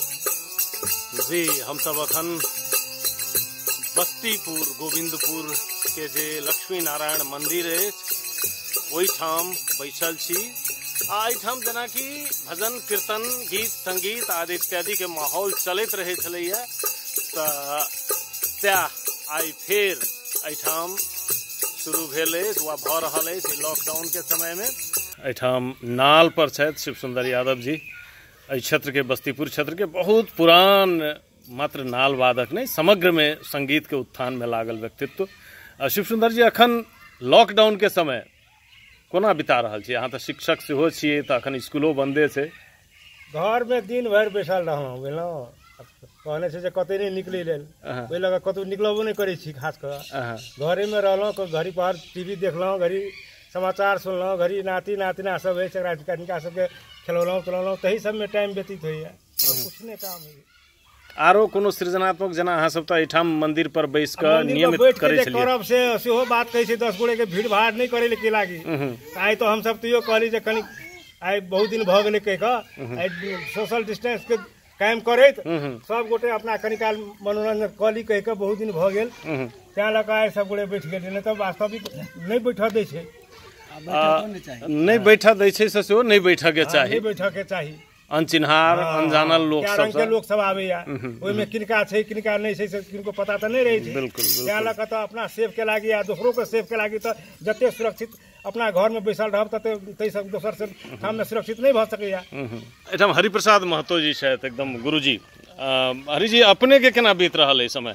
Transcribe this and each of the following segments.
जी हम सब अखन बस्तीपुर गोविंदपुर के जे लक्ष्मी नारायण मंदिर अछि ओहिठाम बैसल छी आ एहिठाम जेनाकि भजन कीर्तन गीत संगीत आदि इत्यादि के माहौल चलैत रहै छलैया तऽ सएह आइ फेर एहिठाम शुरू भेल अछि वा भऽ रहल अछि लॉकडाउन के समय में एहिठाम नाल पर छथि शिव सुंदर यादव जी एहि क्षेत्र के बस्तीपुर क्षेत्र के बहुत पुरान मात्र नाल वादक नहीं समग्र में संगीत के उत्थान में लागल व्यक्तित्व शिव सुंदर जी अखन लॉकडाउन के समय कोना बिता रहल छी अहाँ तऽ शिक्षक सेहो छियै तऽ अखन स्कूलो बन्दे छै घरमे दिन भरि बैसल रहलहुँ बुझलहुँ कहने छै जे कतहु नहि निकलै लेल ओहि लऽ कऽ कतहु निकलबो नहि करै छी खास कऽ घरेमे रहलहुँ घड़ी पर टी वी देखलहुँ घड़ी समाचार सुनलहुँ घड़ी नाति नातिना सब होइ छै एकरा सबके खेलौलहुँ पिलौलहुँ तही सबमे टाइम व्यतीत होइए किछु नहि काम होइए आरो कोनो सृजनात्मक जेना अहाँ सब तऽ एहिठाम मंदिर पर बैस कऽ मंदिर पर नियमित बैठ के करै जे छलियै करब से सेहो बात कहै छै दस गोरे के भीड़ भाड़ नहि करै ले की लागी उहुं, आइ तो हम सब तैयो कहली जे कनी आइ बहुत दिन भऽ गेलै कहि कऽ आइ सोशल डिस्टेंस के कायम करैत उहुं, सब गोटे अपना कनी काल मनोरंजन कऽ ली कहि कऽ बहुत दिन भऽ गेल उहुं। तैं लऽ कऽ आइ सब गोटे बैठ गेलियै नहि तऽ वास्तविक नहि बैठऽ दै छै आ, नहि बैठऽ दै छै से सेहो नहि बैठऽ के चाही नहि बैठऽ के चाही अनचिन्हार हँ, अनजानल लोक कए रंग के सबसँ लोक सब आबैया ओहिमे किनका छै किनका नहि छै से किनको पता तऽ नहि रहै छै बिल्कुल, बिल्कुल। तैं लऽ कऽ तऽ अपना सेफ के लागी आ दोसरो के सेफ के लागी तऽ जते सुरक्षित अपना घर में बैसल रहब तते ताहि सब दोसर से ठाम में सुरक्षित नहि भऽ सकैया हम्म। एहिठाम हरिप्रसाद महतो जी छथि एकदम गुरुजी अ, हरिजी अपनेके केना बीत रहल एहि समय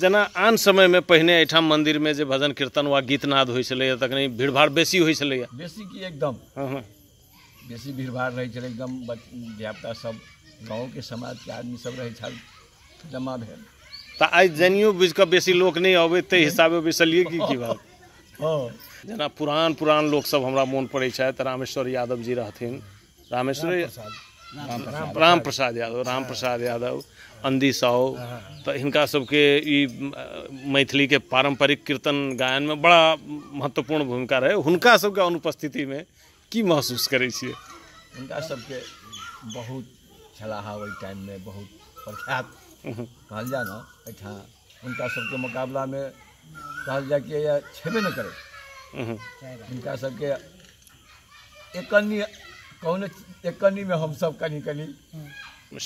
जेना आन समयमे पहिने एहिठाम मन्दिरमे जे भजन कीर्तन वा गीतनाद होइ छलैए तखन भीड़भाड़ बेसी होइ छलैए बेसी की एकदम हँ हँ बेसी भीड़भाड़ रहै छलै एकदम धियापुता सब गाँवके समाजके आदमी सब रहै छल जमा भेल तऽ आइ जानियो बुझि कऽ बेसी लोक नहि अबै ताहि हिसाबे बैसलियै की की बात हँ जेना पुरान पुरान लोकसभ हमरा मोन पड़ै छथि रामेश्वर यादव जी रहथिन रामेश्वर राम प्रसाद यादव राम प्रसाद यादव अंदी साव तऽ हिनका सबके ई अ, मैथिलीके पारंपरिक कीर्तन गायनमे बड़ा महत्वपूर्ण भूमिका रहै हुनका सबके अनुपस्थितिमे की महसूस करै छियै हुनका सबके बहुत छलाहा ओहि टाइममे बहुत प्रख्यात कहल जाय ने एहिठाम हुनका सबके मुकाबलामे कहल जाय कि या छेबे नहि करै उहुं। हुनका सबके एक कन्नी कौन एक कन्नी में हम सब कनी कनी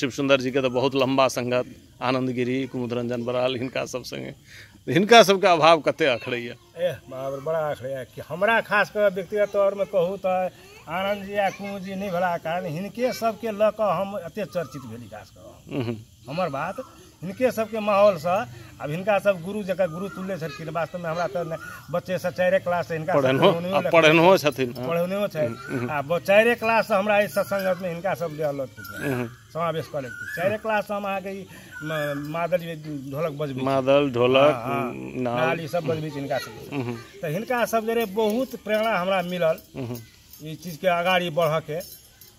शिव सुंदर जी के तो बहुत लंबा संगत आनंद गिरी कुमुद रंजन बराल हिनका सब संगे हिनका सबके अभाव कते अखड़ैया एह बाप रे, बड़ा आखड़े है कि हमरा खास कर व्यक्तिगत तौर में कहू तो आनंद जी आ कुमुद जी नहीं भेला कारण हिनके सबके लऽ कऽ हम एते चर्चित भेली खास कऽ उहुं। हमर बात हिनके सबके माहौलसँ आब हिनका सब गुरु जकर गुरु तुल्य छलखिन वास्तवमे हमरा तऽ ने- बच्चेसँ चारिए क्लाससँ हिनका सब पढ़ेनहो पढ़ौनियो आ लिखौनियो- पढ़ेनहो छथिन हँ। पढ़ौनियो छै आ ब- चारिए क्लाससँ हमरा एहि सत्संगतमे हिनका सब जे अलग हम्म। समावेश कऽ लेलखिन चारिए क्लाससँ हम अहाँके ई म- मादल जे ढोलक बजबै छी। मादल ढोलक हँ, हँ। नाल नाल ई सब बजबै छी हिनका सबके हम्म, तऽ हिनका सब जरे बहुत प्रेरणा हमरा मिलल हम्म। ई चीजके अगाड़ी बढ़ऽके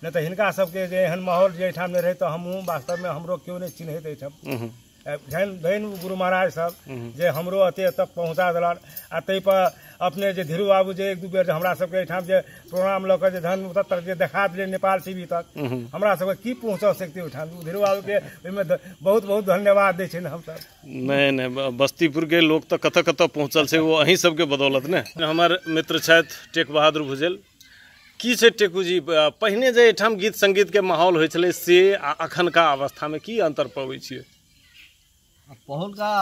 नहि तऽ हिनका सबके जे एहन माहौल जे एहिठाम नहि रहै तऽ हमहूँ वास्तवमे हमरो केओ नहि चिन्हैत एहिठाम हम्म, आ धनि धनि ओ गुरु महाराज सब हम्म। जे हमरो अते तक पहुँचा देलन आ ताहिपर अपने जे धीरू बाबू जे एक दू बेर जे हमरा सबके एहिठाम जे प्रोग्राम लऽ कऽ जे धन ओतऽ तक जे देखा देलियै नेपाल टी वी तक हम्म। हमरा सबके की पहुँचा सकतै ओहिठाम ओ धीरू बाबूके ओहिमे ध- बहुत बहुत धन्यवाद दै छियनि हमसब नहि नहि ब- बस्तीपुर के लोग तऽ कतऽ कतऽ पहुंचल छै वो अहीं सबके बदौलत ने हमर मित्र छथि टेक बहादुर भुजेल की छै टेकू जी पहिने जे एहिठाम गीत संगीतके माहौल होइ छलै से आ अखनका अवस्थामे की अन्तर पबै छियै पहुलका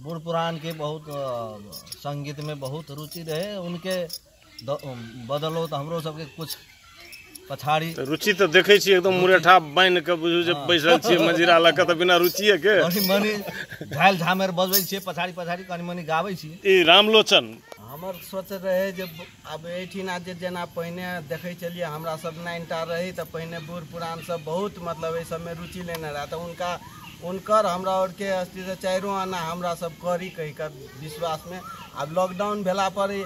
बूढ़ पुरानके बहुत संगीतमे बहुत रुचि रहै उनके बदौलत हमरो सबके किछु पछाड़ी तऽ रुचि तऽ देखै छी एकदम मुरेठा बान्हि कऽ बुझू जे बैसल छियै मजीरा लऽ कऽ तऽ बिना रुचिए के कनि मनि झालि झामेर बजबै छियै पछाड़ी पछाड़ी कनि मनि गाबै छी ई रामलोचन हमर सोच रहै जे ब- आब एहिठिना जे जेना पहिने देखै छलियै हमरा सब नाइनटा रही तऽ पहिने बूढ़ पुरान सब बहुत मतलब एहि सबमे रुचि लेने रहए तऽ हुनका हुनकर हमरा आओरके अस्थिसँ चारिओ आना हमरा सब करी कहि कऽ विश्वासमे आब लॉकडाउन भेला पर ई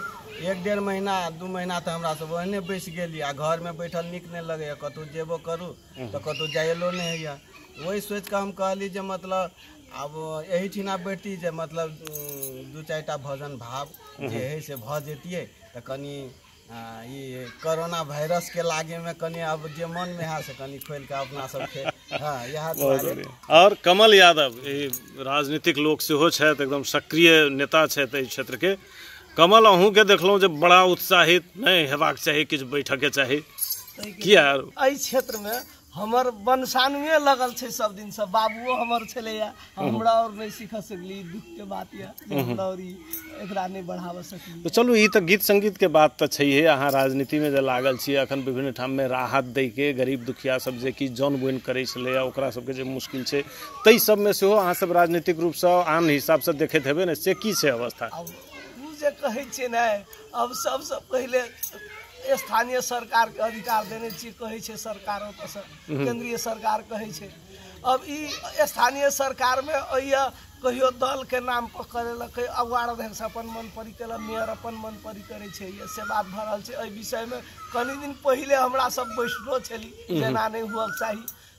एक डेढ़ महीना दू महीना तऽ हमरा सब ओहने बैस गेली आ घर में बैठल निक नहीं लगे कतौ जेबो करू तऽ कतौ जायलो नहीं होइया वही सोच के हम कहली जे मतलब आब यही ठिना बैठती जे मतलब दू चार टा भजन भाव जे है से भ जतिये तऽ कनी ई कोरोना वायरस के लागे में कनी अब जे मन में है से कनी खोल के अपना सबके हाँ इएह दुआरे और कमल यादव राजनीतिक लोक से हो छथि एकदम सक्रिय नेता छथि एहि क्षेत्र के कमल अहूँके देखलहुँ जे बड़ा उत्साहित नहि हेबाक चाही किछु बैठके चाही किया एहि क्षेत्रमे हमर वंशानुए लगल छै सब दिनसँ बाबुओ हमर छलैया हमरा और नहि सीख सकली दुख के बात यऽ जे हमरा और ई एकरा नहि बढ़ाबऽ सकली तऽ चलू ई तऽ गीत संगीतके बात तऽ छैहे अहाँ राजनीतिमे जे लागल छी अखन विभिन्न ठाममे राहत दैके गरीब दुखिया सब जे कि जन बोनि करै छलैए ओकरा सबके जे मुश्किल छै ताहि सबमे सेहो अहाँ सब राजनीतिक रूपसँ आन हिसाबसँ देखैत हेबै ने से की छै अवस्था अब ओ जे कहै छियै ने अब सबसँ पहिले स्थानीय सरकारके अधिकार देने छियै कहै छै सरकार ओतऽसँ केंद्रीय सरकार कहै छै अब ई स्थानीय सरकारमे अइए कहियो दलके नाम पर करेलकै अब वार्ड अध्यक्ष अपन मन परी केलक मेयर अपन मन परी करै छै ये से बात भऽ रहल छै एहि विषयमे कनि दिन पहिले हमरा सब बैसलो छली जेना नहि हुअक चाही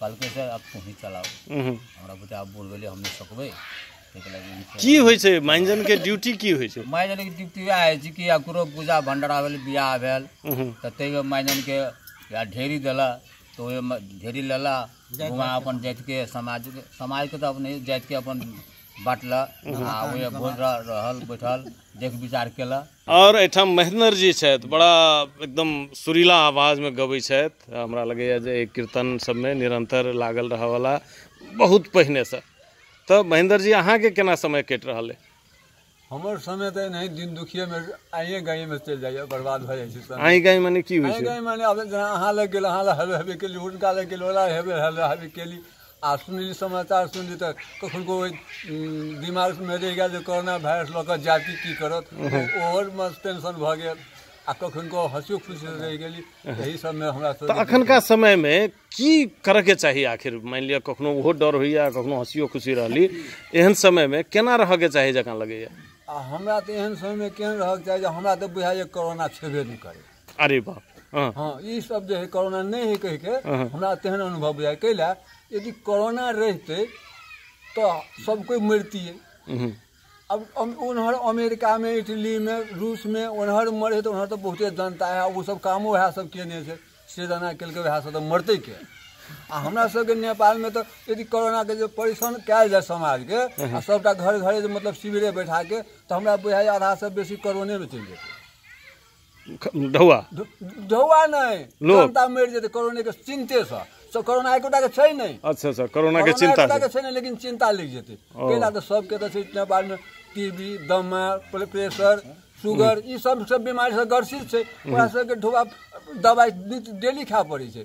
कहलकै सर आब तोही चलाउ हम्म। हमरा बुते आब बूढ़ भेलै हम नहि सकबै ताहिके लागि ई छै। की होइ छै माइजन के ड्यूटी की होइ छै माय जाने कि ड्यूटी वएह होइ छै कि आब ककरो पूजा भंडारा भेल बियाह भेल हम्म। तऽ ताहिमे माय जाने के या ढेरी देला तऽ ओहिमे ढेरी लेला घुमा अपन जातिके समाजके समाजके तऽ अपने जातिके अपन बाँटला आ ओहि भोज रह- रहल बैठल देख विचार केला आओर एहिठाम महेन्द्र जी छथि बड़ा एकदम सुरीला आवाजमे गबै छथि हमरा लगैए जे एहि कीर्तन सभमे निरन्तर लागल रहऽवला बहुत पहिनेसँ तऽ महेन्द्र जी अहाँके केना समय कटि रहल अइ हमर समय तऽ एनाही दिन दुखिएमे आइए गाइएमे चलि जाइए बर्बाद भऽ जाइ छै समय अहीं गाँव मने की होइ आइ छै गाइमे आब जेना अहाँ लग गेल अहाँ लग हेबे हेबे केली हुनका लग गेल ओला हेबे हेबे हेबे केली आ सुनली समाचार सुनली तऽ कखनको ओहि दिमागमे रहि गेल जे कोरोना वायरस लऽ कऽ जायब कि की करत ओहो मे टेंशन भऽ गेल आ कखनको हँसियो खुशी रहि गेली एहि सबमे हमरा तऽ सब अखनका समयमे की करयके चाही आखिर मानि लिअ कखनो ओहो डर होइए कखनो हँसियो खुशी रहली एहन समयमे केना रहयके चाही जकाँ लगैए आ हमरा तऽ एहन समयमे केहन रहक चाही जे हमरा तऽ बुझाइए कोरोना छेबे नहि करै अरे बाप हँ हँ ई सब जे है कोरोना नहि है कहि के हँ। हमरा तेहन अनुभव बुझाय कैला यदि कोरोना रहिते तो सब कोई मरतिए हम्म, अब अम- उन्हर अमेरिका में इटली में रूस में उन्हर मरे तो उन्हर तो बहुते जनता है वो सब कामो वएह सब केने छै से जना केलकै वएह सब तो मरते के आ हमरा सबके नेपाल में तो यदि कोरोना के जे परेशान कयल जाय समाज के आ सबटा घर घरे जे मतलब शिविरे बैठा के तो हमरा बुझाय आधा से बेसी कोरोने में चलि जेतै ख- ढौआ धु- धौआ नहि लोक। जनता मरि जेतै कोरोना के चिन्ते से सो कोरोना एकोटा के छै नहि अच्छा अच्छा कोरोना के कोरोना चिंता एकोटा के से छै नहि लेकिन चिन्ता लागि जेतै ओ। कैला तऽ सबके तऽ छै इतना बार मे टीबी दमा प्रे- प्रेशर सुगर ई सब सब बीमारी से ग्रसित छै ओकरा सबके ढोआ दवाई डेली खाय पड़ै छै